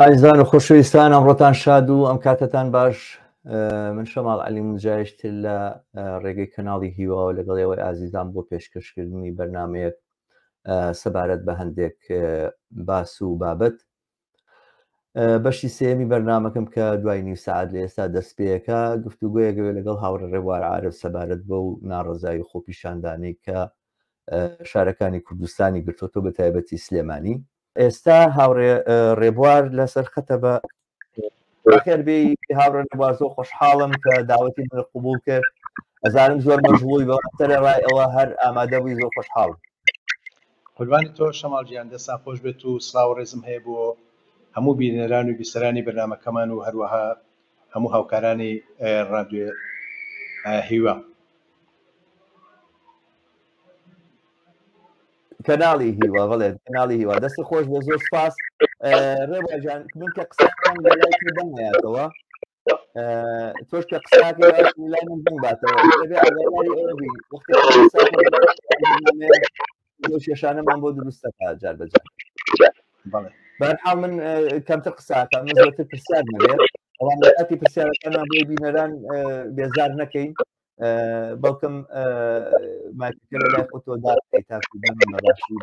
ئایزان و خۆشەویستان ئەمڕۆتان شاد و ئەم کاتتان باش من شەماڵ علی مجایشتر لە ڕێگەی کەناڵی هیواوە لەگەڵ ئێوەی ئازیزان بۆ پێشکەشکردنی بەرنمەیەک سەبارەت بە هەندێک باس و بابەت بەشی سێمی بەرنمەکەم کە دوای نیو سعات لە ئێستا دەستپێەکە گفتوگوۆیەگەوێ لەگەڵ هاوڕە ڕێوار عاعرف سەبارەت بە و ناڕزایی خۆپیشاندانی کە شارەکانی کوردستانی گرتۆتۆ بە تایبەتی سلێمانی ئێستا هاوڕێ ڕێبوار لەسەر خەتە بە خێر بێ هاوڕێ نەبازۆ خۆشحاڵم کە داوەتی من قوبول کرد ئەزانم زۆر مەژڵوی بەسەرە ڕای ئەوە هەر ئامادە بووی زۆر خۆشحاڵم قوربانی تۆ شەماڵ گیان دەستان خۆش بێت و سڵاو و ڕێزم هەیە بۆ هەموو بینەران و بیسەرانی بەرنامەکەمان و هەروەها هەموو هاوکارانی ڕادیۆ هیوا. کەناڵی هیوا بڵێ کەناڵی هیوا دەست خۆش بە زۆر سپاس ڕێباجان من کە قسەکەم لە لای تۆ بەمایەتەوە تۆش کە قساکە لای من بم باتەوە دەبێ ئاگاداری ئەوە بین وەختی لەو شێشانەمان بۆ دروستەکە جار بەجار بەرحاڵ من کەمتر قساکە من زۆرتر پرسیار نەبێت ئەوان لە کاتی پرسیارەکانمان بۆی بینەران بێزار نەکەین بەڵکم ماکە لای خۆتۆ داکەی تاکو بەڕاشی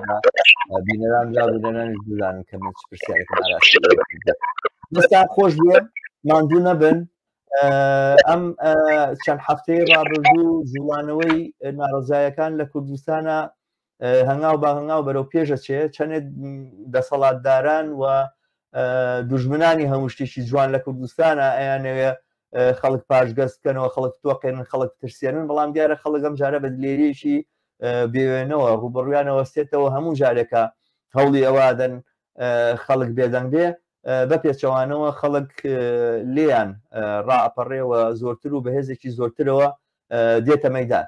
بینەران را بینەرانش بزانن کە من چ پرسیارێکم ئاراسی دەستا خۆش بێ ماندوو نەبن ئەم چەند هەفتەی ڕابردوو جوڵانەوەی ناڕزایەکان لە کوردستانە هەنگاو بە هەنگاو بەرەو پێشە چێ چەندێت دەسەڵاتداران و دژمنانی هەموو شتێکی جوان لە کوردستانە ئەیانەوێ خەڵک پاشگەز بکەنەوە خەڵک تۆقێنن خەڵک ترسێنن بەڵام دیارە خەڵگەم جارە بە دلێریەکی بێوێنەوە ڕوبڕویانەوە سێتەوە هەموو جارێکە هەوڵی ئەوادەن خەڵک بێدەنگ بێ بە پێچەوانەوە خەڵک لێیان ڕاپەڕێەوە زۆرتر و بەهێزێکی زۆرترەوە دێتە مەدان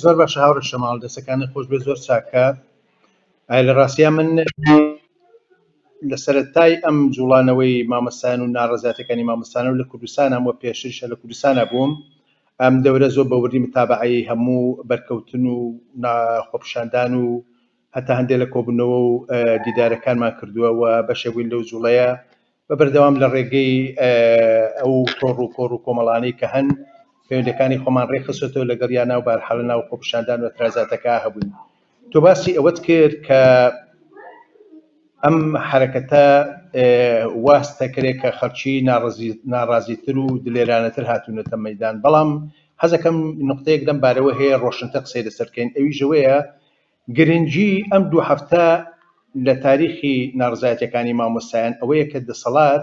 زۆر باشە هاوڕێ شەماڵ دەسەکانت خۆش بێ زۆر چاکە لە ڕاستیا من لە سەرەتای ئەم جوڵانەوەی مامەستان و ناڕزاتەکانی مامەستانە و لە کوردستان هەمووە پێشترشە لە کوردستانە بووم ئەم دەورە زۆر بەوردی متابعی هەموو بەرکەوتن و خۆپشاندان و هەتا هەندێک لە کۆبوونەوە و دیدارەکانمان کردووە و بەشێک بووین لەو جوڵەیە بە بەردەوام لە ڕێگەی ئەو تۆڕ و کۆڕ و کۆمەڵانەی کە هەن پەیوەندەکانی خۆمان ڕێکخستۆتەوە لەگەڵ یا ناو بارحاڵە ناو خۆپشاندان و ترازاتەکە هەبووین تۆ باسی ئەوەت کرد کە ئەم حرەکەتە واستە کرێ کە خەرچی ناڕازیتر و دلێرانەتر هاتوونەتە مەدان بەڵام حەزەکەم نقطەیەک لەم بارەوە هەیە ڕۆشنتە قسەی لەسەرکەین ئەوی ژەوەیە گرنگی ئەم دوو هەفتە لە تاریخی ناڕزایەتیەکانی مامۆستایان ئەوەیە کە دەسەڵات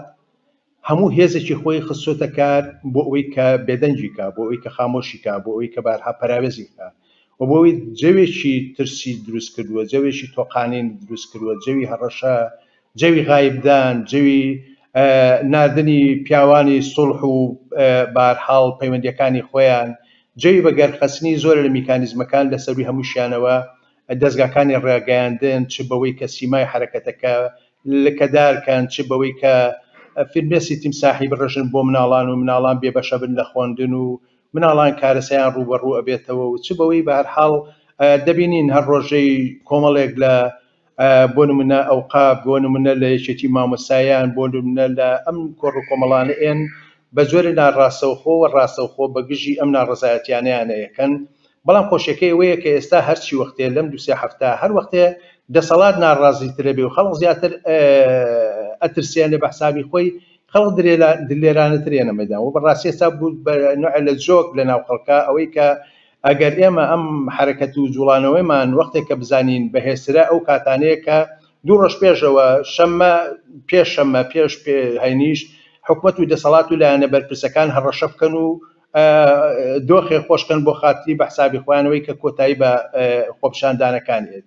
هەموو هێزێکی خۆی خستۆتە کار بۆ ئەوەی کە بێدەنگی کا، بۆ ئەوەی کە خامۆشی کا، بۆ ئەوەی کە بارها پەراوێزی کا و بۆ ئەوەی جەوێکی ترسی دروست کردوە، جەوێکی تۆقانین دروست کردوە، جەوی هەڕەشە جەوی غایبدان، جەوی ناردنی پیاوانی سوڵح و بەهەرحاڵ پەیوەندییەکانی خۆیان، جەوی بە گەرخەستنی زۆرێ لە میکانیزمەکان، لە سەرووی هەمووشیانەوە دەزگاکانی ڕاگەیاندن، چ بەوەی کە سیمای حەرەکەتەکە لکەدار کەن، چ بەوەی کە فرمێسکی تیمساحی بڕژن بۆ مناڵان و مناڵان بێ بەشە بن لە خوەندن و مناڵان کارەسەیان ڕووبەڕوو ئەبێتەوە و چ بەوەی بەهەرحاڵ دەبینین هەر ڕۆژەی کۆمەڵێک لە بۆ نمونە ئەوقاف، بۆ نمونە لە یەکێتی مامۆستایان، بۆ نمونە لە ئەم کۆڕ و کۆمەڵانە ێەن بە جۆرێ ناڕاستەوخۆ و ڕاستەوخۆ بە گژی ئەم ناڕەزایەتیانەیانە ێەکەن، بەڵام خۆشیەکەی ئەوەیە کە ئێستا هەر چی وەختێ لەم دوو سێ هەفتە هەر وەختێ دەسەڵات ناڕازی ترە بێ و خەڵق زیاتر ئەترسێنێ بە حسابی خۆی خەڵق دلێرانە تر ێەنە مەیدان و بە ڕاستی ئێستا بوو بە نوعێ لە جۆک لە ناو خەڵکا ئەوەی کە ئەگەر ئێمە ئەم حەرەکەت و جووڵانەوەیمان وەختێک کە بزانین بەهێزترە ئەو کاتانەیە کە دوو ڕۆژ پێشەوە شەممە پێش شەممە پێش پێ هەینیش حکومەت و دەسەڵات و لایەنە بەرپرسەکان هەڕەشە بکەن و دۆخێ خۆشکەن بۆ خاتری بە حسابی خۆیانەوەی کە کۆتایی بە خۆپیشاندانەکان هێت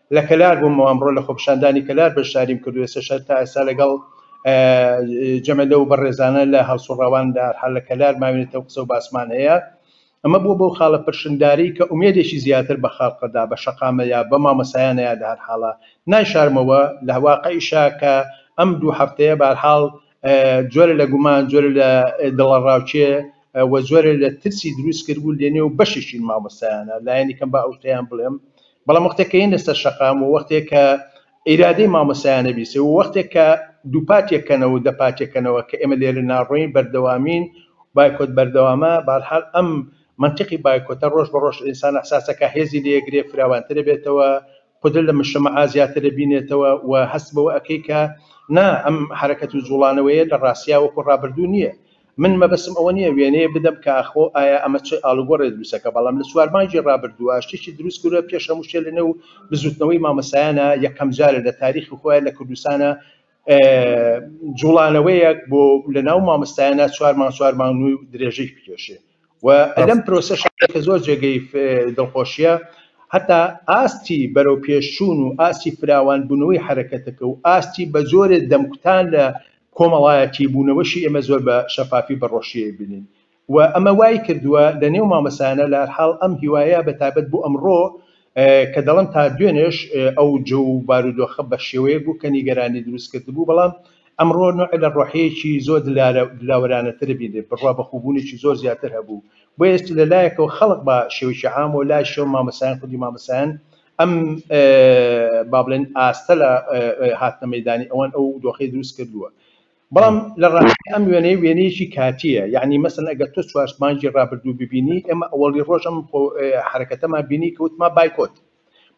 لە کەلار بوومەوە ئەمڕۆ لە خۆپیشاندانی کەلار بەشداریم کردو ئێستاش هەر تا ئێستا لەگەڵ جەمە لەو بەڕێزانە لە هەڵسوڕاوان لە هەرحال لە کەلار ماوینێتەوە قسە و باسمان هەیە ئەمە بووە بەو خاڵە پرشنگداری کە ئومێدێکی زیاتر بە خەڵقەدا بە شەقامە یا بە مامەسایانە یا لە هەرحاڵە نایشارمەوە لە واقعیشا کە ئەم دوو هەفتەیە بە هەرحاڵ جۆرە لە گومان، جۆرە لە دڵەڕاوکێ و جۆرە لە ترسی دروست کرد بوو لە نێو بەشێکی مامۆستایانە، لایەنی کەم با ئەو شتەیان بڵێم، بەڵام وەختێک کە یەنە سەر شەقام و وەختێک کە ئیرادەی مامۆستایانە بیسێ و وەختێک کە دووپات یەکەنەوە و دەپات یەکەنەوە کە ئێمە لێرە ناڕۆین بەردەوامین بایکۆت بەردەوامە بارحال ئەم منتقی بایکۆتە ڕۆژ بە ڕۆژ ئینسان ئەحساسەکە هێزی لێگرێ فراوانترە بێتەوە قدر لە مشەمەعا زیاتر ئەبینێتەوە و هەست بەوە ئەکەی کە نا ئەم حەرەکەت و جوڵانەوەیە لە ڕاستیا وەکو ڕابردوو نییە. من مەبەستم ئەوە نییە وێنەیەک بدەم کە ئاخۆ ئایا ئەمە چ ئاڵوگۆڕێ دروستەکە بەڵام لە چوار مانگی ڕابردووە شتێکی دروست کردوە پێش هەموو شتێ لە نێو بزوتنەوەی مامۆستایانە یەکەم جارە لە تاریخی خۆیان لە کوردستانە جوڵانەوەیەک بۆ لەناو مامۆستایانە چوار مانگ چوار مانگ و درێژەی بکێشێ و لەم پرۆسەش کە زۆر جێگەی دڵخۆشیە هەتا ئاستی بەرەو پێشچوون و ئاستی فراوان بوونەوەی حرەکەتەکە و ئاستی بە جۆرێ دەمکوتان لە کۆمەڵایەتی بوونەوەشی ئێمە زۆر بە شەفافی بەڕۆشیە بینین و ئەمە وای کردووە لە نێو مامۆستایانە لە هەر حاڵ ئەم هیوایە بە تایبەت بۆ ئەمڕۆ کە دەڵێم تا دوێنێش ئەو جۆ و بارودۆخە بە شێوەیەک بوو کە نیگەرانی دروست کردبوو بەڵام ئەمڕۆ نوعێ لە ڕۆحیەکی زۆر دلاوەرانەتر بینێ بڕوا بە خووبوونێکی زۆر زیاتر هەبوو بۆیە چ لە لایەکەوە خەڵک بە شێوەکی عام و لای شێوە مامۆستایان خودی مامۆستایان ئەم با بڵێن ئاستە لە هاتنە مەیدانی ئەوان ئەو دۆخەی دروست کردووە بەڵام لە ڕاستیدا ئەم وێنەیە وێنەیەکی کاتییە، یەعنی مەسەلەن ئەگەر تۆ چوار مانگی ڕابردوو ببینی، ئێمە ئەوەڵی ڕۆژ ئەم حەرەکەتەمان بینی کە وتمان بایکۆت،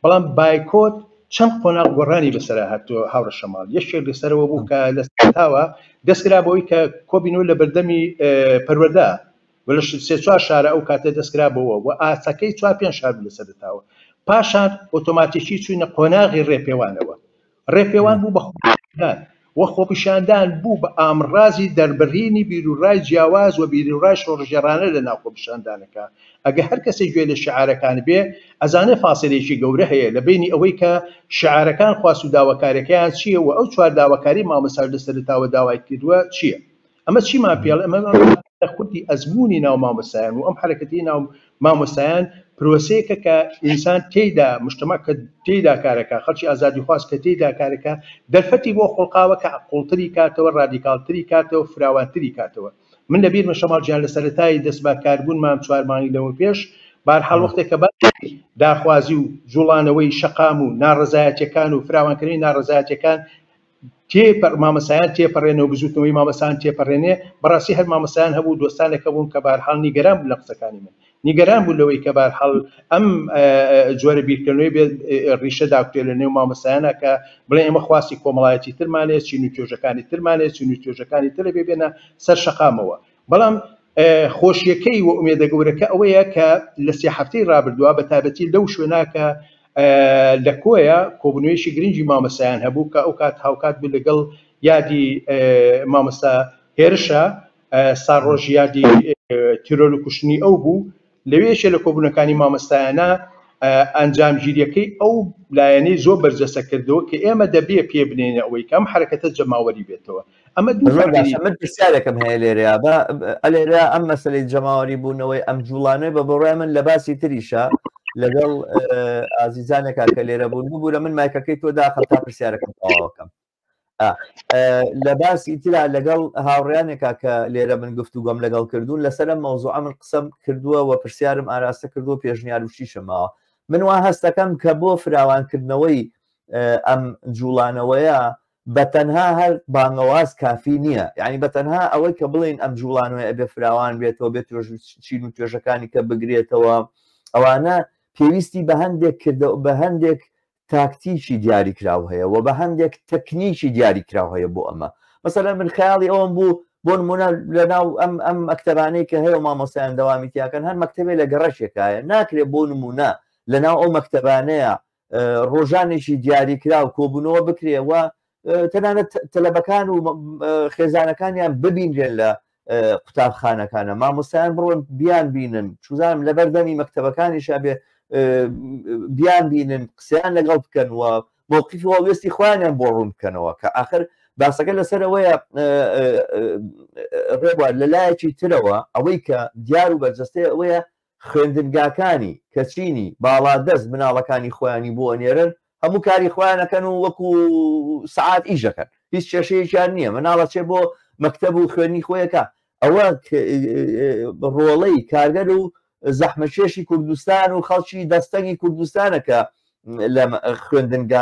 بەڵام بایکۆت چەند قۆناغ گۆڕانی بەسەرا هاتووە هاوڕێ شەماڵ، یەکێک لەسەرەوە بوو کە لە سەرەتاوە دەست کرا بەوەی کە کۆبینەوە لە بەردەمی پەروەردە و لە سێ چوار شارە ئەو کاتە دەست کرا بەوە و ئاستەکەی چوار پێنج شار بوو لە سەرەتاوە، پاشان ئۆتۆماتیکی چووینە قۆناغی ڕێپێوانەوە. ڕێپێوان بوو بە خۆپیشاندان و خۆپیشاندان بوو بە ئامڕازی دەربڕینی بیروڕای جیاواز و بیروڕای شۆڕشگێڕانە لە ناو خۆپیشاندانەکە. ئەگە هەر کەسێک گوێ لە شیعارەکان بێ، ئەزانێ فاسیلەیەکی گەورە هەیە لە بەینی ئەوەی کە شیعارەکان خواست و داواکاریەکەیان چییە و ئەو چوار داواکاریەی مامۆستاش لە سەرەتاوە داوای کردووە چییە. ئەمە چیمان پێڵێ ئەمە لە خودی ئەزموونی ناو مامۆستایان و ئەم حرەکەتی ناو مامۆستایان پرۆسەیەکە کە ئینسان تێیدا مشتمە کە تێیدا کارەکە خەڵکی ئازادی خواست کە تێیدا کارەکە دەرفەتی بۆ خۆڵقاوە کە قوڵتری کاتەوە ڕادیکالتری کاتەوە فراوانتری کاتەوە من لە بیرمە شەماڵ گیان لە سەرەتایی دەست بە کاربوون مام چوار مانگی لەوە پێش بارحاڵ وەختێک کە داخوازی و جوڵانەوەی شەقام و ناڕزایەتەکان و فراوانکردنی ناڕزایەتەکان تێپەر مامەسایان تێپەرێنەوە بزوتنەوەی مامەسایان تێپەرێنێ بەڕاستی هەر مامەسایان هەبوو دۆستانێک هەبوون کە بارحاڵ نیگەران بوو لە قسەکانی من نیگەران بوو لەوەی کە بارحاڵ ئەم جۆرە بیرکردنەوەی بێ ڕیشە داکوتێ لە نێو مامەسایانە کە بڵێ ئێمە خواستی کۆمەڵایەتی ترمانێ چین و توێژەکانی ترمانێ چین و توێژەکانی ترە بێ بێنە سەر شەقامەوە بەڵام خۆشیەکەی و ئومێدە گەورەکە ئەوەیە کە لە سێ هەفتەی رابردووە بە تایبەتی لەو شوێنە کە لە کۆیە کۆبوونەوەیەکی گرنگی مامۆستایان هەبوو کە ئەو کات هاوکات بوو لەگەڵ یادی مامۆستا هێرشە ساڕۆژ یادی تیرۆر و کوشتنی ئەو بوو لەوێ یەکێ لە کۆبوونەکانی مامۆستایانە ئەنجامگیریەکەی ئەو لایەنەی زۆر بەرجەستە کردەوە کە ئێمە دەبێ پێ بنێینە ئەوەی کە ئەم حەرەکەتە جەماوەری بێتەوە ئەمە دوو زۆر باشە من پرسیارێکم هەیە لێرەیا بە ئەلێرە ئەم مەسلەی جەماوەری بوونەوەی ئەم جوڵانەوەی بە بڕای من لە باسی تریشە لەگەڵ ئازیزانێکا کە لێرە بوون ببوورە من مایکەکەی تۆ داخم تا پرسیارەکەم تەواوەکەم لە باسی تررا لەگەڵ هاوڕیانێکا کە لێرە من گفتو گۆم لەگەڵ کردوون لەسرم مەوزوع من قسەم کردووە و پرسیارم ئاراستە کردو پێشنیار وشیشمەوە من وا هەستەکەم کە بۆ فراوانکردنەوەی ئەم جوڵانەوەیە بە تەنها هەر بانگەواز کافی نییە یعنی بە تەنها ئەوەی کە بڵین ئەم جوڵانەوەی ئەبێ فراوان بێتەوە بێت چین و توێژەکانی کە بگرێتەوە ئەوانە پێویستی بە هەندێک کردە بە هەندێک تاکتیکی دیاریکراو هەیە وە بە هەندێک تەکنیکی دیاریکراو هەیە بۆ ئەمە مەسەلەن من خەیاڵی ئەوەم بوو بۆ نمونە لەناو ئەم ئەم مەکتەبانەی کە هەیە و مامۆسایان دەوامی تیاکەن هەر مەکتتەبێ لە گەڕەشێکایە ناکرێت بۆ نمونە لەناو ئەو مەکتەبانەیە ڕۆژانێکی دیاریکراو کۆبوونەوە بکرێەوە تەنانەت تەلەبەکان و خێزانەکانیان ببینرێن لە قوتابخانەکانە مامۆستایان بڕۆن بیان بینن چوزانم لە بەردەمی مەکتتەبەکانیشا بێ بیان بینن قسەیان لەگەڵ بکەنەوە مووقفی هەڵوێستی خۆیانیان بۆ ڕوون بکەنەوە کە آخر باسەکە لەسەرەوەیە ڕێبوار لە لایەکی ترەوە ئەوەی کە دیار و بەرجەستەیە ئەوەیە خوێندنگاکانی کەچینی باڵادەست مناڵەکانی خۆیانی بۆ ئەنێرن هەموو کاری خۆیان ئەکەن و وەکو سەعات ئیش ئەکەن هیچ کێشەیەکیان نییە مناڵ ئەچێ بۆ مەکتەب و خوێنی خۆی ئەکا ئەوە ڕۆڵەی کارگەر و زەحمەکێشی کوردستان و خەڵکی دەستەنگی کوردستانە کە لە خوێندنگا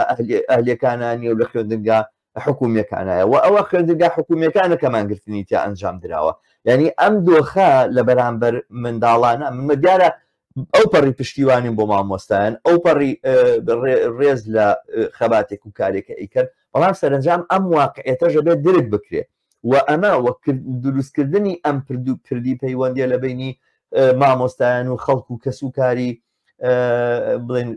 ئەهلیەکانانی و لە خوێندنگا حکومیەکانایە وە ئەوە خوێندنگا حکومیەکانە کە مانگرتنی تیا ئەنجام دراوە یعنی ئەم دۆخە لە بەرامبەر منداڵانە منمە دیارە ئەو پەڕی پشتیوانیم بۆ مامۆستایان ئەو پەڕی ڕێز لە خەباتێک و کارێکە ئیکرد بەڵام سەرنجام ئەم واقعێتەژە بێت درک بکرێت و ئەمە وەک دروستکردنی ئەم پردو پردی پەیوەندیە لە بینی مامۆستایان و خەڵکو و کەس و کاری بڵێن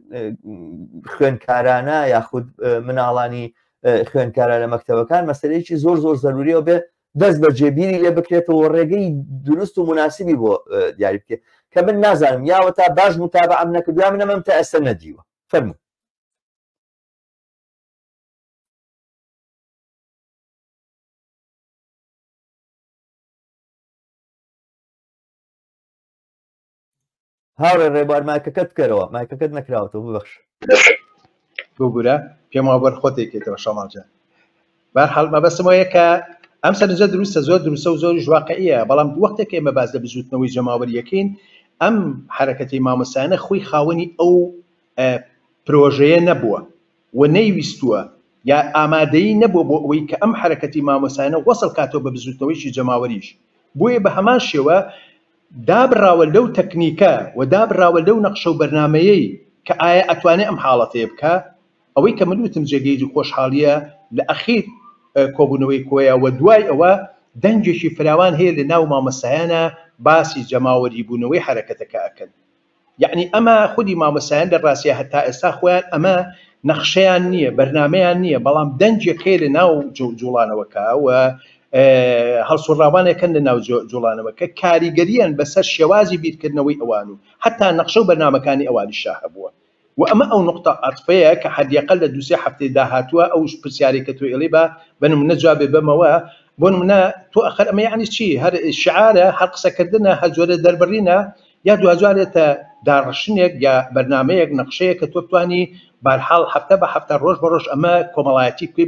خوێنکارانە یاخود مناڵانی خوێنکارە لە مەکتەوەکان مەسلەیەکی زۆر زۆر زەروریەوە بێ دەست بە جێبیری لێ بکرێتەوە ڕێگەی دروست و مناسبی بۆ دیاری بکرێت کە من نازانم یاوە تا باش متابە ئەم نەکردو من ئەمەم تا ئێستا نەدیوە فەرمو هاوڕێ ڕێبوار مایکەکەت بکەرەوە مایکەکەت نەکراوەتەوە ببەخش بگورە پێم وا بەر خۆتێکێتەوە شەماڵجان بار حڵ مەبەستم وایە کە ئەم سەرنجە دروستە زۆر دروستە و زۆر ژواقعە بەڵام وەختێک ئێمە باز لە بزوتنەوەی جەماوەریەکەین ئەم حرەکەتی مامۆسایانە خۆی خاوەنی ئەو پرۆژەیە نەبووە و نەیویستووە یا ئامادەیی نەبووە بۆ ئەوەی کە ئەم حەرەکەتی مامۆستایانە وەسڵ کاتەوە بە بزووتنەوەیەکی جەماوەریش بۆیە بە هەمان شێوە دابڕاوە لەو تەکنیکە و دابڕاوە لەو نەقشە و بەرنامەیەی کە ئایا ئەتوانێ ئەم حاڵەتەیە بکا ئەوەی کە من وتم جێگەی خۆشحاڵییە لە ئەخیر کۆبوونەوەی کۆیە و دوای ئەوە دەنگێکی فراوان هەیە لە ناو مامۆستایانە باسی جەماوەریبوونەوەی حەرەکەتەکە ئەکەن یەعنی ئەمە خودی مامۆستایان لە ڕاستیا هەتا ئێستا خۆیان ئەمە نەخشەیان نیە بەرنامەیان نیە بەڵام دەنگێک هەیە لە ناو جوڵانەوەکە و هەڵسوڕاوانێکن لە ناو جوڵانەوەکە کاریگەریان بەسەر شێوازی بیرکردنەوەی ئەوان و هەتا نەخشە و بەرنامەکانی ئەوانیشا هەبووە وە ئەمە ئەو نوقتە عەتفەیە کە حەدیەقەل لە دوو سێ هەفتەی داهاتووە ئەو پرسیارەی کە تۆ ئێڵی با بە نمونە جوابێ بەمەوە بۆ نمونە تۆ ئەخەر ئەمە یەعنی چی هەر شیعارە هەر قسە کردنە هەر جۆرە دەربڕینە یا دواجارێتە داڕشتنێک یا بەرنامەیەک نەقشەیەک کە تۆ بتوانی بارحاڵ هەفتە بە هەفتە ڕۆژ بە ڕۆژ ئەمە کۆمەڵایەتی کوێ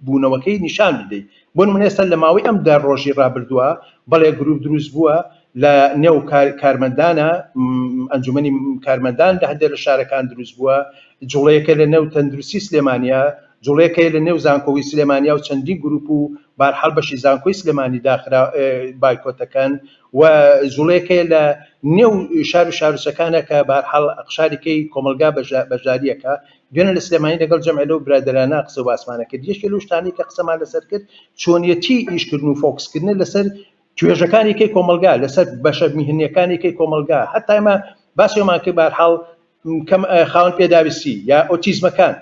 بوونەوەکەی نیشان بدەیت بۆ نمونە ئێستا لە ماوەی ئەم دە ڕۆژی ڕابردووە بەڵێ گروپ دروست بووە لە نێو کارمەندانە ئەنجومەنی کارمەندان لە هەندێک لە شارەکان دروست بووە جوڵەیەکە لە نێو تەندروستی سلێمانیا جوڵەیەکەی لە نێو زانکۆی سلێمانیا و چەندین گروپ و بارحاڵ بەشی زانکۆی سلێمانی داخرا بایکۆتەکەن و جوڵەیەکەی لە نێو شار و شارچەکانە کە بارحاڵ قشارێکی کۆمەلگا بەژاریەکە دوێنێ لە سلێمانی لەگەڵ جەمعێ لەو برادەرانە قسە و باسمانە کرد یەکێ لەو شتانەی کە قسەمان لەسەر کرد چۆنیەتی ئیشکردن و فۆکسکردنە لەسەر توێژەکانی کەی کۆمەلگا لەسەر بەشە میهنیەکانی کەی کۆمەلگا هەتایمە باسیۆمان کرد بارحاڵ کەم خاون پێداویستی یا ئۆتیزمەکان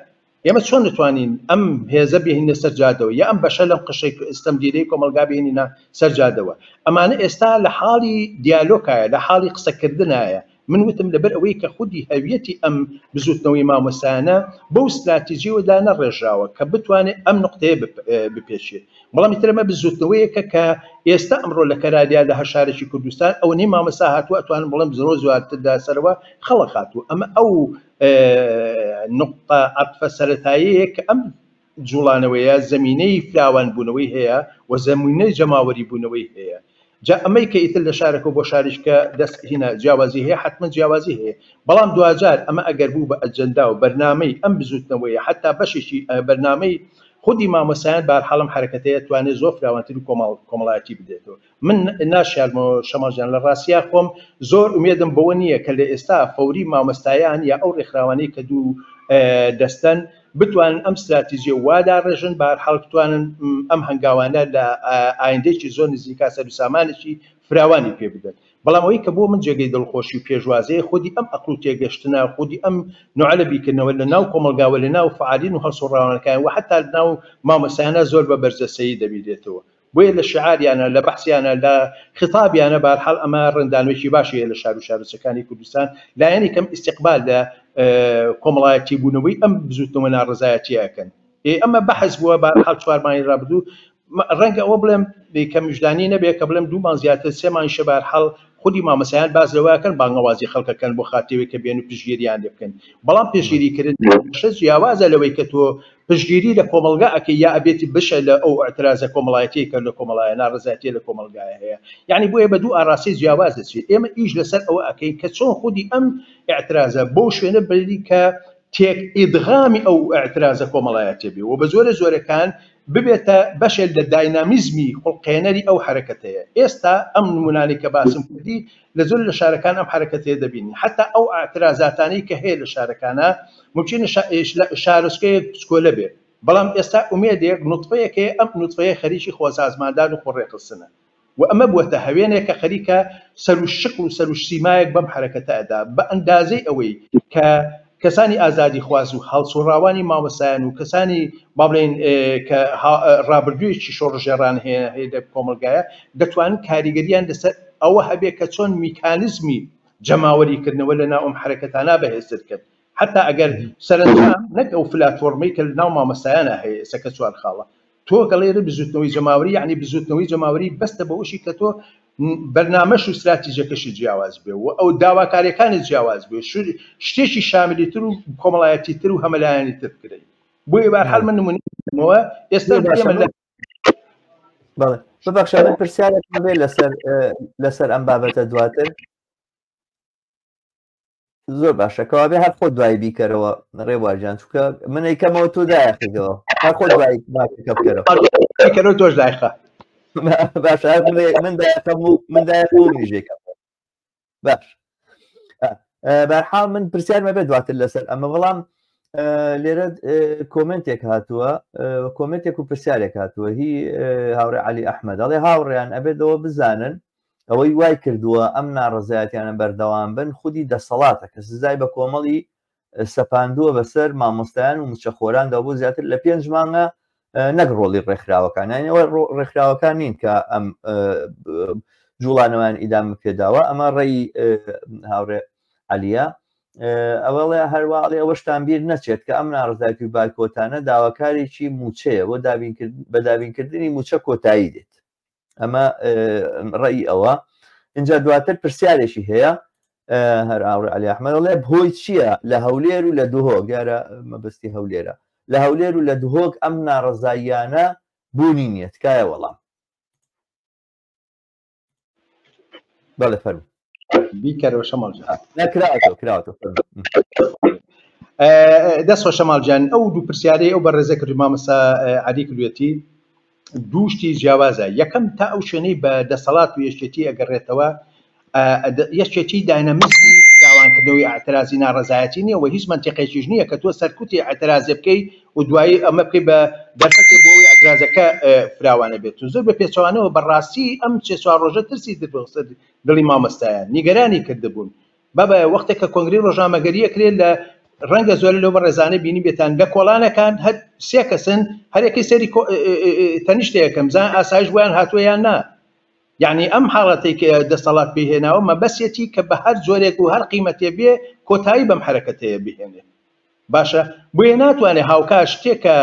ئێمە چۆن دەتوانین ئەم هێزە بهینە سەر جادەوە یا ئەم بەشە لەم قشەی ئستەمدیرەی کۆمەلگا بهێنینە سەر جادەوە ئەمانە ئێستا لە حاڵی دیالۆکایە لە حاڵی قسەکردنایە من وتم لەبەر ئەوەی کە خودی هەویەتی ئەم بزووتنەوەی مامۆستایانە بەو ستراتیجیەوە دانەڕێژراوە کە بتوانێت ئەم نوقتەیە بپێچێت، بەڵام ئیتر ئەمە بزووتنەوەیەکە کە ئێستا ئەمڕۆ لە کەرالیا لە هەر شارێکی کوردستان ئەوەنەی مامۆستا هاتووە ئەتوانم بڵێم زۆر زواتر دا سەرەوە خەڵک هاتووە ئەمە ئەو نوقتە عەتفە سەرەتایەیە کە ئەم جوڵانەوەیە زەمینەی فراوان بونەوەی هەیە و زەمینەی جەماوەری بونەوەی هەیە جا ئەمەی کە ئیتر لە شارەکەو بۆ شاریش کە دەست هینا جیاوازی هەیە حەتمەن جیاوازی هەیە بەڵام دواجار ئەمە ئەگەر بوو بە ئەجەنداو بەرنامەی ئەم بزوتنەوەیە حەتا بەشێکی ئە بەرنامەی خودی مامۆستایان بەهەرحاڵ ئەم حەرەکەتەیە توانێت زۆر فراوانتر و کۆمەڵایەتی بدێتەوە من ناشارمەوە شەماڵ جان لە ڕاستیا خۆم زۆر ئومێدم بەوە نییە کە لە ئێستا فەوری مامۆستایان یا ئەو ڕێکخراوانەی کە دوو دەستەن بتوانن ئەم ستراتیژیە وا داڕێژن بە هەر حاڵ بتوانن ئەم هەنگاوانە لە ئایندەیەکی زۆر نزیکا سەر و سامانێکی فراوانی پێ بدەن بەڵام ئەوەی کە بۆ من جێگەی دڵخۆشی و پێشوازەیە خودی ئەم ئەقڵ و تێگەشتنە خودی ئەم نوعە لە بیرکردنەوە لە ناو کۆمەڵگا و لە ناو فەعالین و هەڵسوڕاوانەکان و حەتا لە ناو مامۆستایانە زۆر بە بەرجەستەیی دەبینرێتەوە بۆیە لە شیعاریانە، لە بەحسیانە، لە خیتابیانە، بەهەرحاڵ ئەمە ڕەنگدانەوەیەکی باشی هەیە لە شار و شارۆچەکانی کوردستان لایەنی کەم ئیستیقبال لە کۆمەڵایەتی بوونەوەی ئەم بزووتنەوە ناڕەزایەتیە ئەکەن. ئێ ئەمە بەحس بووە بەهەرحاڵ چوار مانگی ڕابردوو ڕەنگە ئەوە بڵێم کە مژدانی نەبێ کە بڵێم دوو مانگ زیاتر سێ مانگیشە بەهەرحاڵ خودی مامۆستایان باس لەوە ئەکەن بانگەوازی خەڵک ئەکەن بۆ خاترەوەی کە بێن و پشتگیریان لێ بکەن بەڵام پشتگیریکردن بەشە جیاوازە لەوەی کە تۆ پشتگیری لە کۆمەڵگا ئەکەی یا ئەبێت بشە لە ئەو ئیعترازە کۆمەڵایەتیەی کە لە کۆمەڵایە ناڕەزایەتیە لە کۆمەڵگایە هەیە یانی بۆیە بە دوو ئاراستەی جیاواز دەچێت ئێمە ئیش لەسەر ئەوە ئەکەین کە چۆن خودی ئەم ئیعترازە بەو شوێنە بەری کە تێک ئیدغامی ئەو ئیعترازە کۆمەڵایەتیە بێ و بە جۆرە جۆرەکان ببێتە بەشێک لە داینامیزمی خوڵقێنەری ئەو حەرەکەتەیە ئێستا ئەم نمونانەی کە باسم کردی لە زۆر لە شارەکان ئەم حەرەکەتەیە دەبینین حەتا ئەو ئەعترازاتانەی کە هەیە لە شارەکانا مومکینە شارۆچکەیەک بچکۆلە بێت بەڵام ئێستا ئومێدێک نوتفەیەک هەیە ئەم نوتفەیە خەریکی خۆسازماندان و خۆڕێکخستنە و ئەمە بووەتە هەوێنێک کە خەریکە سەروشکڵ و سەروشسیمایەک بەم حەرەکەتە ئەدا بە ئەندازەی ئەوەی کە کەسانی ئازادیخواز و هەڵسوڕاوانی مامۆستایان و کەسانی با بڵێین کە ڕابردوویەکی شۆڕشگێڕانە هەیە لە کۆمەڵگایە، دەتوانن کاریگەرییان لەسەر ئەوە هەبێت کە چۆن میکانیزمی جەماوەریکردنەوە لە ناو ئەم حەرەکەتانە بەهێزتر بکەن حەتا ئەگەر سەرەنجام نەک ئەو فلاتفۆڕمەی کە لە ناو مامۆستایانا هەیە ئێستا کە چوار خاڵە تۆ گەڵێرە بزوتنەوەی جەماوەری یەعنی بزوتنەوەی جەماوەری بەستە بەوەشی کە تۆ بەرنامەش و ستراتیژەکەشی جیاواز بێ و ئەو داواکاریەکانت جیاواز بێ شتێکی شاملی تر و کۆمەڵایەتی تر و هەمەلایانی تر بکرێ بۆیە بارحال من نمونەوە ئێستا بەڵێ ببخشە من پرسیارێکم بێ لەسەر لەسەر ئەم بابەتە دواتر زۆر باشە کەوابێ هەر خۆ دوای بیکەرەوە ڕێواژان چکە منی کەمەوە تۆ دایخیەوە هەر خۆ دوای بکەرەوە تۆش دایخە باش من داخەم و من داخۆژێکم باش بەرحا من پرسیارمە بێ دواتر لەسەر ئەمە بەڵام لێرە کۆمنتێک هاتووە کۆمنتێک و پرسیارێک هاتووە هی هاوڕێ علی ئەحمەد دەڵێ هاوڕێیان ئەبێتەوە بزانن ئەوەی وای کردووە ئەم ناڕەزایەتیانە بەردەوام بن خودی دەسەڵاتە کە سزای بە کۆمەڵی سەپاندووە بەسەر مامۆستایان و مچەخۆراندا بۆ زیاتر لە پێنج مانگە نەک ڕۆڵی ڕێکخراوەکان یانەوە ڕێکخراوەکان نین کە ئەم جوڵانەوەیان ئیدام پێداوە ئەمە ڕێی هاوڕێ عەلیە ئەوەڵێ هەرواڵێ ئەوەشتان بیر نەچێت کە ئەم ناڕزاکی باکۆتانە داواکارێکی موچەیە بۆ بە دابینکردنی موچە کۆتایی دێت ئەمە ڕێی ئەوە اینجا دواتر پرسیارێکی هەیە هەر ئاوڕ علی ئەحمەدڵێ بۆی چییە لە هەولێر و لە دهۆک دیارە مەبستی هەولێرە لە هەولێر و لە دهۆک ئەم ناڕزاییانە بوونی نییە تکایە وەڵام بەڵێ فەرمو بیکەرەوە شەماڵ نەکراوەتەوە کراوەتەوە دەست خۆ شەماڵ جان ئەو دوو پرسیارەی ئەو بە ڕێزە کردی مامەسا عادی کردوێتی دووشتی جیاوازە یەکەم تا ئەو شوێنەی بە دەسەڵات و یەکێتی ئەگەڕێتەوە یەکێتی داینەمیزمی داوانکردنەوەی ئاعترازی ناڕزایەتی نیە و هیچ منتیقێکیش نییە کە تۆ سەرکوتی ئاعترازێ بکەی و دوایی ئەمە بکەی بە دەرفەتی بۆەوەی ئاعترازەکە فراوانە بێت و زۆر بە پێچوانەوە بەڕاستی ئەم چێ چوار ڕۆژە ترسی دەبسەر دڵی مامۆستایان نیگەرانی کردبوون. بابایە وەختێک کە کۆنگرەی ڕۆژنامەگەری ئەکرێ لە ڕەنگە زۆرێ لەو بەڕێزانەی بینیبێتان لە کۆڵانەکان هەر سێ کەسن هەر یەکەی سەری کۆ تەنیشتێ یەکەم زان ئاسایش بۆیان هاتووە یان نا یعنی ئەم حاڵەتەی کە دەسەڵات پێی هێناوە مەبەسیەتی کە بە هەر جۆرێک و هەر قیمەتێ بێ کۆتایی بەم حەرەکەتەیە بهێنێ باشە بۆیە ناتوانێ هاوکات شتێک کە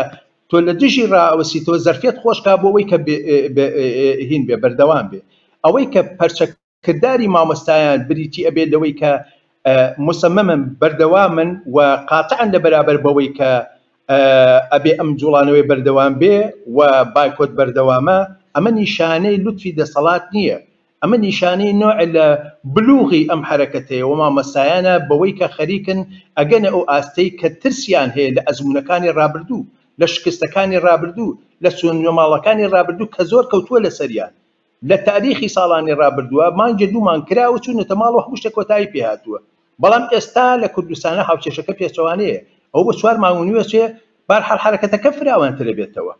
تۆ لە دژی ڕائەوەسیتەوە زەرفەت خۆشکا بۆ ئەوەی کە هین بێ بەردەوام بێ ئەوەی کە پەرچەکردداری مامۆستایان بریتی ئەبێت لەوەی کە مسممن بەردەوامن و قاتعن لە بەرابەر بەوەی کە ئەبێ ئەم جوڵانەوەی بەردەوام بێ و بایکۆت بەردەوامە ئەمە نیشانەی لوتفی دەسەڵات نییە ئەمە نیشانەی نوع لە بلوغی ئەم حەرەکەتەیە و مامۆستایانە بەوەی کە خەریکن ئەگەنە ئەو ئاستەی کە ترسیان هەیە لە ئەزموونەکانی ڕابردوو، لە شکستەکانی ڕابردوو، لە چوونە ماڵەکانی ڕابردوو کە زۆر کەوتووە لەسەریان لە تاریخی ساڵانی ڕابردووە، مانگێ دوو مانگ کراوە چوونەتە ماڵ و هەموو شتێک کۆتایی پێ هاتووە، بەڵام ئێستا لە کوردستانا هاوکێشەکە پێچەوانەیە ئەوە بۆ چوار مانگ و نیوە چێ، بەهەرحاڵ حەرەکەتەکە فراوانترەبێتەوە.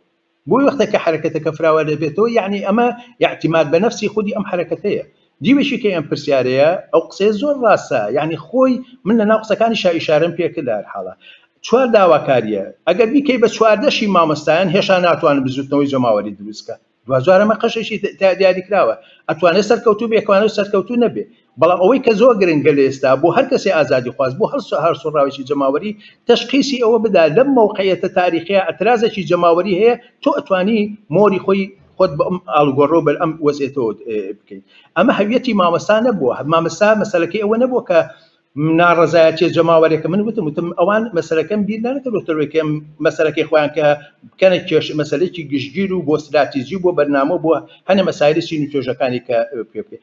بۆی وەختێک کە حەرەکەتەکە فراوان دەبێتەوە یەعنی ئەمە ئیعتیماد بە نەفسی خودی ئەم حەرەکەتەیە دیوێکی کەی ئەم پرسیارەیە ئەو قسەیە زۆر ڕاستە یەعنی خۆی من لە ناو قسەکانی شا ئیشارەم پێ کرد لە هەر حاڵە چوار داواکارییە ئەگەر بیکەی بە چواردەشی مامۆستایان هێشا ناتوانن بزوتنەوەی جەماوەری دروست کە دواجار ئەمە قەشێکی دیاری کراوە ئەتوانێت سەرکەوتوو بێ ئەتوانێت سەرکەوتوو نەبێ بەڵام ئەوەی کە زۆر گرنگە لە ئێستا بۆ هەر کەسێ ئازادیخواز، بۆ هەر هەڵسوڕاوێکی جەماوەری، تەشخیسی ئەوە بدا لەم مەوقعیەتە تاریخیە ئەعترازێکی جەماوەری هەیە، تۆ ئەتوانی مۆری خۆی خۆت بە ئەم ئاڵوگۆڕەو بەر ئەم وەزعێتەوە بکەی. ئەمە هەویەتی مامۆستا نەبووە، مامۆستا مەسەلەکەی ئەوە نەبووە کە ناڕەزایەتیە جەماوەرێکە من وتم وتم ئەوان مەسەلەکەم بیر نەکردوەوەی کەم مەسەلەکەی خۆیان کە بکەنە کێش مەسلێکی گشتگیر و بۆ ستراتیزی بۆ بەرنامە بۆ هەنە مەسایلی سین و توێژەکانی کە پێ بکەین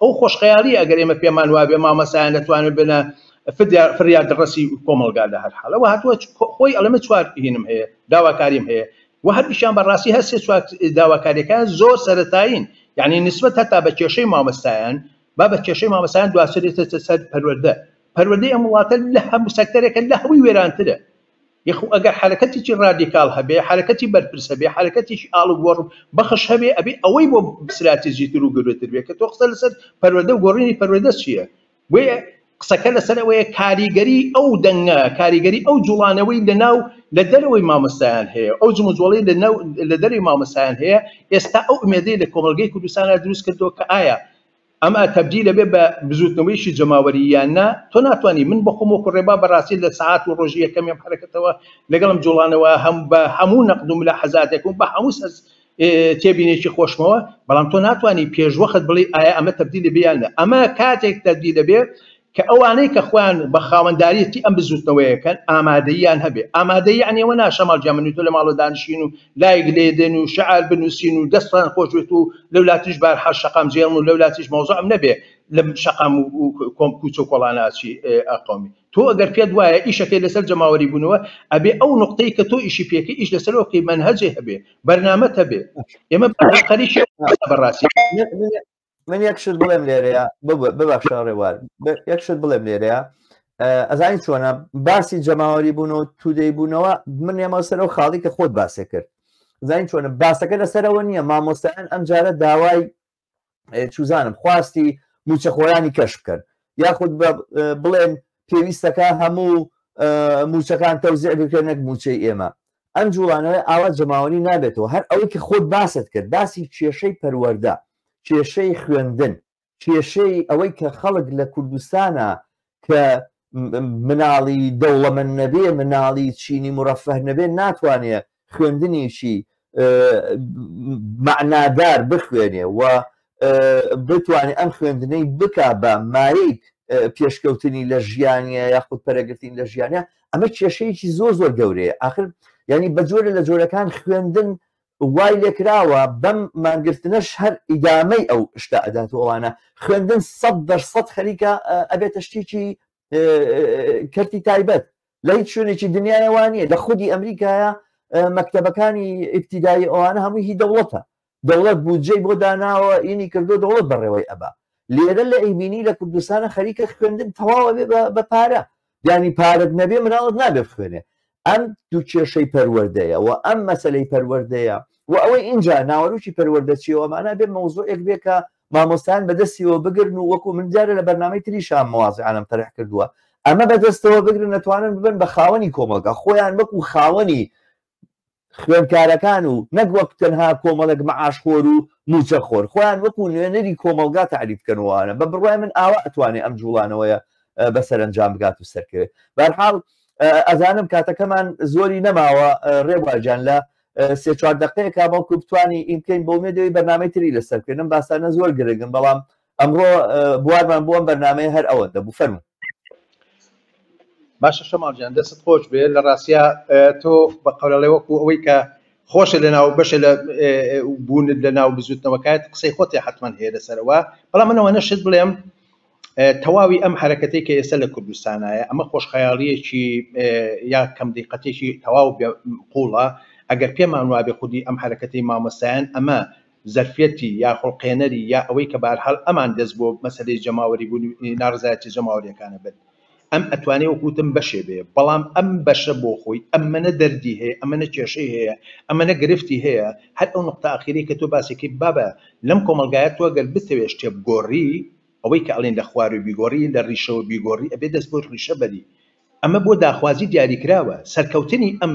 ئەو خۆشخەیاڵیە ئەگەر ئێمە پێمان وابێ مامەسایان دەتوانن بنە فریا دڕەسی کۆمەڵگا لە هەر حاڵەوە هاتووە خۆی ئەڵێ من چوار هینم هەیە داواکاریم هەیە و هەردیشان بەڕاستی هەر سێ چوار داواکاریەکان زۆر سەرەتایین یعنی نسبەت هەتا بە کێشەی مامەستایان با بە کێشەی مامەسایان دواسرێتە سەر پەروەردە پەروەردەی ئەم وڵاتە لە هەموو سەکتەرێکە لە هەمووی وێرانترە یەخو ئەگەر حەرەکەتێکی ڕادیکاڵ هەبێ، حەرەکەتی بەرپرس هەبێ، حەرەکەتێکی ئاڵوگۆڕ بەخش هەبێ، ئەبێ ئەوەی بۆ ستراتیجی تر و گەورەتر بێ کە تۆ قسە لەسەر پەروەردە و گۆڕینی پەروەردە چییە؟ بۆیە قسەکە لەسەر ئەوەیە کاریگەریی ئەو دەنگە، کاریگەریی ئەو جووڵانەوەی لە ناو لە دەرەوەی مامۆستایان هەیە، ئەو جموجۆڵەی لە ناو لە دەرەوەی مامۆستایان هەیە، ئێستا ئەو ئومێدەی لە کۆمەڵگەی کوردستانا دروست کردووە کە ئایا ئەمە تەبدیل ئەبێ بە بزوتنەوەیەکی جەماوەری یان نا؟ تۆ ناتوانی من بە خۆم وەکو ڕێبا بەڕاستی لە سەعات و ڕۆژی یەکەمی ئەم حەرەکەتەوە لەگەڵ ئەم جوڵانەوە هەم بە هەموو نەقد و ملاحەزاتێک و بە هەموو سەر تێبینێکی خۆشمەوە بەڵام تۆ ناتوانی پێشوەخت بڵێ ئایا ئەمە تەبدیل ئەبێ یان نا؟ ئەمە کاتێک تەبدیل ئەبێ کە ئەوانەی کە خۆیان بە خاوەنداریەتی ئەم بزوتنەوەیە کەن ئامادەییان هەبێ، ئامادەیی یەعنی ئەوە نا شەماڵ گیان من و تۆ لە ماڵەوە دانیشین و لایک لێدێن و شعار بنوسین و دەستان خۆش بێت و لەولاتریش بارحاش شەقام جێڵم و لەولاتریش مەوزوعم نەبێ لە شەقام و کۆم کوچە و کۆڵانا چی ئە قەومی تۆ ئەگەر پێت وایە ئیشەکەی لەسەر جەماوەری بونەوە ئەبێ ئەو نوقتەی کە تۆ ئیشی پێکەی ئیش لەسەرەوە بکەی مەنهەجێ هەبێ بەرنامەت هەبێ ئێمە بە قەریشی بەڕاستی من یەک شت بڵێم لێرەیە ببخشە ڕێوار یەک شت بڵێم لێرەیە ئەزانی چۆنە باسی جەماوەری بوون و تودەی بوونەوە من نێمەوە سەر و خاڵی کە خۆت باسێ کرد زانین چۆنە باسەکە لەسەرەوە نییە مامۆستایان ئەم جارە داوای چوزانم خواستی موچەخۆرانی کەش بکەن یاخود بڵێن پێویستەکە هەموو موچەکان تەوزیع بکرێنێک موچەی ئێمە ئەم جوڵانەوەی ئاوا جەماوەری نابێتەوە هەر ئەوەی کە خۆت باست کرد باسی کێشەی پەروەردە کێشەی خوێندن کێشەی ئەوەی کە خەڵک لە کوردستانە کە مناڵی دەوڵەمەند نەبێ مناڵی چینی مرەفەه نەبێ ناتوانێ خوێندنیشی معنادار بخوێنێ و بتوانێت ئەم خوێندنەی بک بە مایک پێشکەوتنی لە ژیانە یاخود پەرەگرتنی لە ژیانە ئەمە کێشەیەکی زۆر زۆر گەورەیە ئاخر یعنی بە جۆرە لە جۆرەکان خوێندن وای لێکراوە بەم مانگرتنەش هەر ئیدامەی ئەو شتە ئەدات و ئەوانە خوێندن سەد دەرسەد خەریکە ئەبێتە شتێکی کەرتی تایبەت لە هیچ شوێنێکی دنیاەوانە لە خودی ئەمریکایە مەکتتەبەکانی ئیبتیدایی ئەوانە هەمووی هی دەوڵەتە دەوڵەت بودجەی بۆ داناوە ینی کردوە دەوڵەت بەڕێوەی ئەبا لێرە لە ئیبینی لە کوردستانە خەریکە خوێندن تەواو ئەبێ بە بە پارە یانی پارەت نەبێ مناڵت نابێ بخوێنێ ئەم دوو کێشەی پەروەردەیە و ئەم مەسلەی پەروەردەیە و ئەوەی ئینجا ناوەروکی پەروەردە چیەوە مانا بێ مەوزوعێک بێ کە مامۆستان بەدەستیەوە بگرن و وەکو من دیارە لە بەرنامەی تریشان موازعانم تەرح کردووە ئەمە بەدەستەوە بگرن نەتوانن ببن بە خاوەنی کۆمەڵگا خۆیان وەکو خاوەنی خوێندکارەکان و نەک وەک تەنها کۆمەڵێک مەعاشخۆر و موچەخۆر خۆیان وەکو نوێنەری کۆمەڵگا تەعریف بکەن و ئەوانە بە بڕوای من ئاوا ئەتوانێ ئەم جوڵانەوەیە بە سەرەنجام بگات و سەرکەوێ بەرحاڵ ئەزانم کاتەکەمان زۆری نەماوە ڕێبواجان لە سێ چوار دقەیەکە بەڵکو بتانی ئیمکەین بۆ مێدەوەی بەنامەی تری لەسەر بکەنم باسانە زۆر گرنگن بەڵام ئەمڕۆ بوارمان بۆ ئەم بەرنامەیە هەر ئەوەندە بوو فەرموو. باشە شەماڵ جان دەستت خۆش بێ لە ڕاستیا تۆ بە قەرەڵێ وەکو ئەوەی کە خۆشە لە ناو بەشە لە بوونت لە ناو بزوتنەوەکات قسەی خۆتی حتمما هەیە لەسەرەوە بەڵام منەوە نەشت بڵێم تەواوی ئەم حرەکەتی کە ئێستا لە کوردستانایە ئەمە خۆشخەیاڵیەکی یا کەم دیقەتێکی تەواو قوڵە ئەگەر پێمان وابێ خودی ئەم حرەکەتی مامەسایەن ئەمە زەرفیەتی یا خوڵقێنەری یا ئەوەی کە بەهەرحاڵ ئەمان دەست بۆ مەسەلەی جەماوەری بوون و ناڕەزایەتیە جەماوەریەکانە برد ئەم ئەتوانێ وەکو وتم بەشێ بێ بەڵام ئەم بەشە بۆ خۆی ئەمەنە دەردی هەیە ئەمەنە کێشەی هەیە ئەمەنە گرفتی هەیە هەر ئەو نوقتە ئاخیرەی کە تۆ باسێکی بابە لەم کۆمەڵگایە تۆ گەر بتەوێ شتێ بگۆڕی ئەوەی کە ئەڵێن لە خواروی بیگۆڕی لە ڕیشەوە بیگۆڕی ئەبێ دەست بۆ ڕیشە بەری ئەمە بۆ داخوازی دیاریکراوە سەرکەوتنی ئەم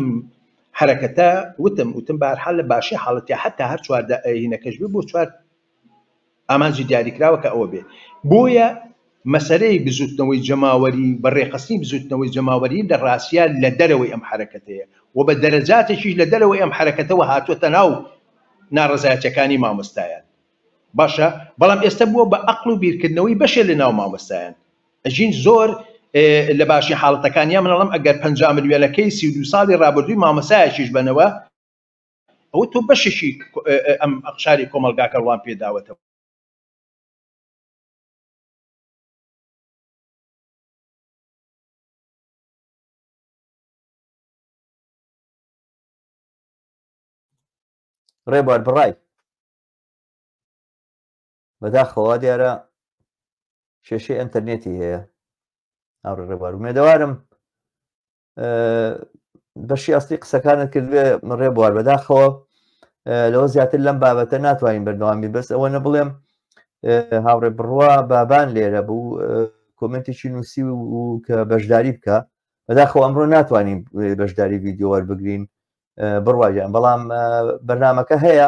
حەرەکەتە وتم وتم بەهەرحال لە باشی حاڵەتیا حەتا هەر چوار دا ئەیینەکەش بێ بۆ چوار ئامانجی دیاریکراوە کە ئەوە بێ بۆیە مەسەلەی بزوتنەوەی جەماوەری بە ڕێکخستنی بزوتنەوەی جەماوەری لە ڕاستیا لە دەرەوەی ئەم حەرەکەتەیە و بە دەرەجاتێکیش لە دەرەوەی ئەم حەرەکەتەوە هاتووەتە ناو ناڕەزایەتیەکانی مامۆستایان. باشە بەڵام ئێستە بووە بە ئەقڵ و بیرکردنەوەی بەشێ لە ناو مامۆستایان ئەژین زۆر لە باشی حاڵەتەکان یا من ئەڵێم ئەگەر پەنجا ملیۆنەکەی سی و دوو ساڵی ڕابردووی مامۆستایەکیش بەنەوە ئەوە تۆ بەشێکی ئەم ئەقشاری کۆمەڵگاکە ڕوان پێداوەتەوە ڕێبوار بڕای بەداخەوە وا دیارە کێشەی ئەتەرنێتی هەیە ئاڕێ ڕێبوار مێدەوارم بەشی ئەستی قسەکانت کردێ ڕێ بوار بەداخەوە لەوە زیاتر لەم بابەتە ناتوانین بەردەوامی بەس ئەوە نە بڵێم هاوڕێ بڕوا بابان لێرە بوو کۆمنتێکی نووسی و کە بەشداری بکە بەداخەوە ئەمڕۆ ناتوانین بەشداری ڤیددیو وەربگرین بڕواگەیان بەڵام بەرنمەکە هەیە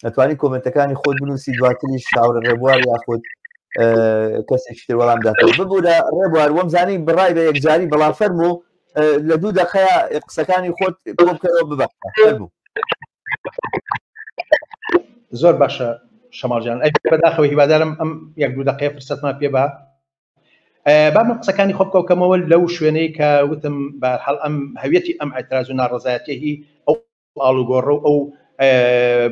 ئەتوانی کۆمنتەکانی خۆت بنووسی دواتری شاورە ڕێبوار یاخود کەسێکی تر وەڵام دات ببوورە ڕێبوار وەم زانی بڕای بە یەکجاری بەڵام فەرم و لە دوو دەقەیە قسەکانی خۆت بکەەوە ببە بوو زۆر باشە شەماڵجان ئەی بەداخەوە هیوادارم ئەم یەک دوو دەقەیە فرسەتمان پێ بە با من قسەکانی خۆم کۆکەمەوە لەو شوێنەی کە وتم بە هەڵ ئەم هەویەتی ئەم ئەتراز و ناڕزایەتیهی ئەو ئاڵوگۆڕە و ئەو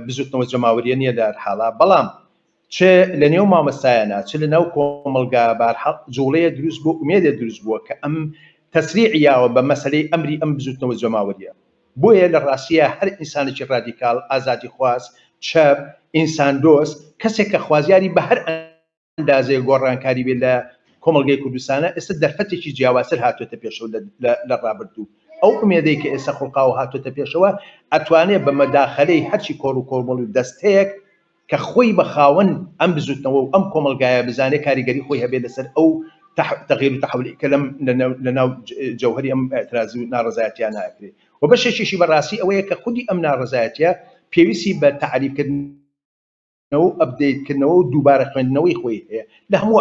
بزوتنەوە جەماوریە نیە لە حاڵە بەڵام چ لە نێو مامەستایانە چ لە ناو کۆمەلگا بارحەق جوڵەیە دروست بۆ ئومێدە دروست بووە کە ئەم تەسری یاوە بە مەسلەی ئەمری ئەم بزوتنەوە جەماوریە بۆیە لە ڕاستە هەر ئینسانێکی ڕادیکال ئازادی خواست چەپ ئینسان دۆست کەسێک کە خوازیاری بە هەر ئەندازەیەک گۆڕانکاری بێت لە کۆمەڵگەی کوردستانا، ئێستا دەرفەتێکی جیاوازتر هاتووەتە پێشەوە لە ڕابردوو، ئەو ئومێدەی کە ئێستا خوڵقاوە هاتووەتە پێشەوە، ئەتوانێت بە مەداخەلەی هەرچی کۆڕ و کۆمەڵ و دەستەیەک کە خۆی بە خاوەن ئەم بزووتنەوە و ئەم کۆمەڵگایە بزانێت کاریگەری خۆی هەبێت لەسەر ئەو تەغیر و تەحولی کە لەم لەناو جەوهەری ئەم ئیعتراز و ناڕەزایەتیانە ئەکرێت و بەشێکیشی بەڕاستی ئەوەیە کە خودی ئەم ناڕەزایەتیە پێویستی بە تەعریبکردن نەوە و ئەپدەیت کردنەوە و دووبارە خوێندنەوەی خۆی هەیە لە هەموو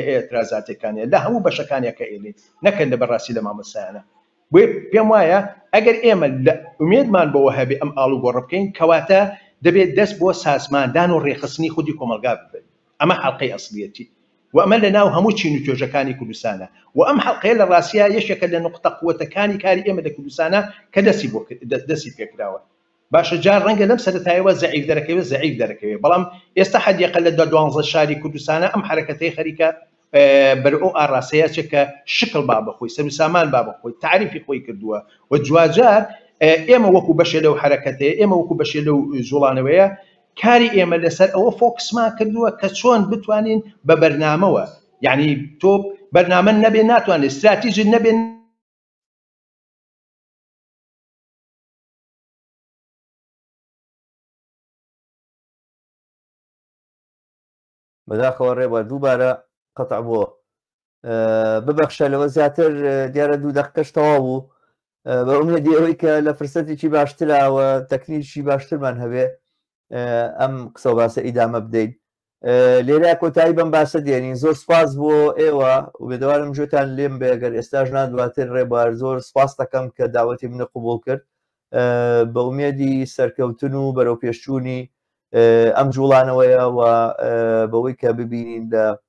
ئێترازاتێکانە لە هەموو بەشەکانە کە ئێلین نەکەن لە بەراستی لە مامۆستایانە بۆیە پێم وایە ئەگەر ئێمە لە ئومێدمان بەوە هەبێ ئەم ئاڵو گۆڕە بکەین کەواتە دەبێت دەست بۆ سازماندان و ڕێخستنی خودی کۆمەلگا ببەین ئەمە حەلقەی ئەسلیەتی و ئەمە لە ناو هەموو چین و توێژەکانی کوردستانە و ئەم حەلقەیە لە ڕاستیا یەکێکە لە نوقتە قوەتەکانی کاری ئێمە لە کوردستانە کە دەستی بۆ دەستی پێکراوە باشە جا ڕەنگە لەم سەرەتایەوە زەعیف دەرەکەوێ زەعیف دەرەکەوێ بەڵام ئێستا حەدیەقە لە دوانزە شاری کوردستانا ئەم حەرەکەتەی خەریکە بەرەو ئەو ئاڕاستەیا چێ کە شکڵ با بەخۆی سەرو سامان با بەخۆی تاریفی خۆی کردووە و جواجار ئێمە وەکو بەشێ لەو حەرەکەتەیە ئێمە وەکو بەشێ لەو جوڵانەوەیە کاری ئێمە لەسەر ئەوە فۆکسمان کردووە کە چۆن بتوانین بە بەرنامەوە یعنی تۆ بەرنامە نەبێ ناتوانێت استراتیژی نەبێن بەداخەوە ڕێبوار دووبارە قەتع بووە ببەخشە لەوە زیاتر دیارە دوو دەقەش تەواو بوو بە ئومێدی ئەوەی کە لە فرسەتێکی باشتراوە تەکنیکی باشترمان هەبێ ئەم قسە باسە ئیدامە بدەین لێرا کۆتایی بم باسە دێنین زۆر سپاس بۆ ئێوە وبێدەوارم جوێتان لێم بێگەر ئێستاش نادواتر ڕێبوار زۆر سپاس دەکەم کە داوەتی منە قوبول کرد بە ئومێدی سەرکەوتن و بەرەو پێشچوونی ئەم جوڵانەوەیە و بەوەی کە ببینین لە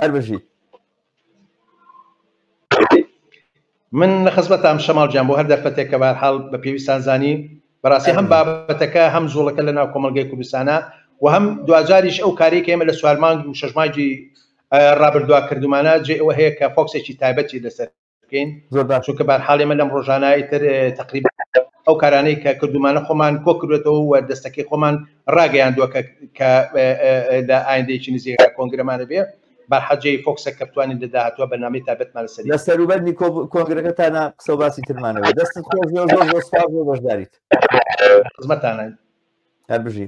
هەر بژی من لە خزمەتام شەماڵ جان بۆ هەر دەرفەتێک کە بارحاڵ بە پێویستان زانی بەڕاستی هەم بابەتەکە هەم زۆڵەکە لە ناو کۆمەلگای کوردستانە و هەم دواجاریش ئەو کاری کە ئێمە لە سوارمانگ و شەژماجی ڕابردوا کردومانە جێ ئەوە هەیە کە فۆکسێکی تایبەتی لەسەر بکەین زۆر باش چونکە بارحاڵی من لەم ڕۆژانایی تر تقریب ئەو کارانەی کە کردومانە خۆمان کۆ کردێتەوە و دەستەکەی خۆمان ڕاگەیاندووە کە لە ئایندەیەکی نزیێ کۆنگرەمانە بێ بەحەجەی فۆکسە کە بتوانین لە داهاتوە بەنامی تابەتمان سەر لە سەروبەر نیکۆ کۆنگرەکە تا نا قسە باسی ترمانەوە دەستت خۆش زۆر زۆر زۆر سپاس بۆ بەشداریت خزمەتانە هەر بژی